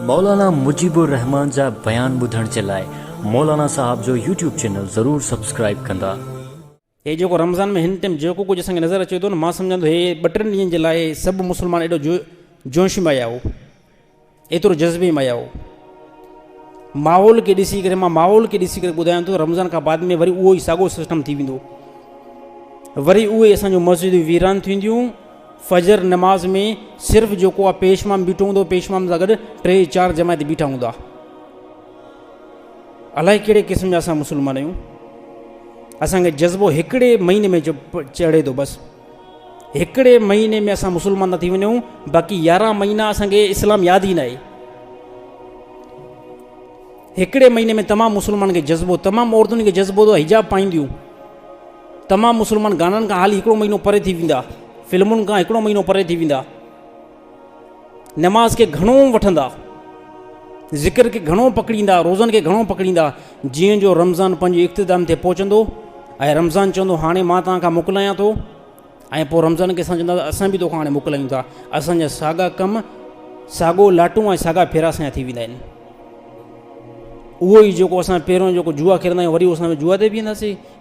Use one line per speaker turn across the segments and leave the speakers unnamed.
مولانا مجيب الرحمان جا بيان ٻڌڻ جي لاء مولانا صاحب جو يوٽيوب چينل ضرور سبسڪرائيب ڪندا. هي جيڪو
رمضان ۾ هن ٽيم جيڪو ڪجهه اسان کي نظر اچي ٿو نه مان سمجهان ٿو هي ٻه ٽن ڏينهن جي لاء سڀ مسلمان ايڏو جو جوش ۾ آيا هو ايترو جذبي ۾ آيا هو ماحول کي ڏسي ڪري مان ماحول کي ڏسي ڪري ٻڌايان ٿو رمضان کان بعد ۾ وري اهو ئي ساڳو سسٽم ٿي ويندو وري اهي اسان جون مسجدون ويران ٿينديون فجر نماز ۾ صرف جيڪو اھو پيش امام بيٺو ھوندو پيش امام سان گڏ ٽي چار جماعت بيٺا ھوندا الائي ڪھڙي قسم جا اسان مسلمان آھيون اسان کي جذبو ھڪڙي مھيني ۾ چڙھي ٿو بس ھڪڙي مھيني ۾ اسان مسلمان ٿا ٿي وڃون باقي يارھن مھينا اسان کي اسلام ياد ئي ناھي ھڪڙي مھيني ۾ تمام مسلمان کي جذبو تمام عورتن کي جذبو ٿو حجاب پائينديون تمام مسلمان گانن کان حالي هڪڙو مهينو پري ٿي ويندا، فلمن کان هڪڙو مهينو پري ٿي ويندا، نماز کي گهڻو وٺندا، ذڪر کي گهڻو پڪڙيندا، روزن کي گهڻو پڪڙيندا، جيئن جو رمضان پنهنجي اختتام تي پهچندو ۽ رمضان چوندو هاڻي مان توهان کان موڪلايان ٿو ۽ پوء رمضان کي اسان چونداسين اسان به توکان هاڻي موڪلايون ٿا، اسان جا ساڳا ڪم، ساڳو لاٽون ۽ ساڳا ڦيرا اسان جا ٿي ويندا آهن. اهو ئي جيڪو اسان پهريون جيڪو جوا کيڏندا آهيون وري اسان جوا تي بيهنداسين،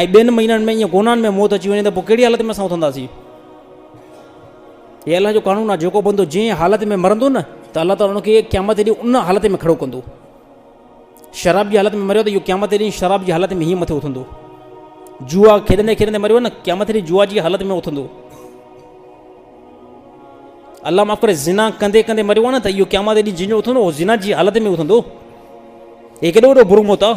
۽ ٻين مهينن ۾ ائين گونان ۾ موت اچي وڃي ته پوء ڪهڙي حالت ۾ اسان اٿنداسين؟ هي الله جو قانون آهي جيڪو بندو جنهن حالت ۾ مرندو نه ته الله تعاليٰ ان کي قيامت ڏينهن ان حالت ۾ کڙو ڪندو شراب جي حالت ۾ مريو ته اهو قيامت ڏينهن شراب جي حالت ۾ هيئن مٿي اٿندو جوا کيڏندي کيڏندي مريو نه قيامت ڏينهن جوا جي حالت ۾ اٿندو الله معاف ڪري ذنا ڪندي ڪندي مريو آهي نه ته اهو قيامت ڏينهن جنهن جو اٿندو اهو ذنا جي حالت ۾ اٿندو هي ڪيڏو وڏو برو موت آهي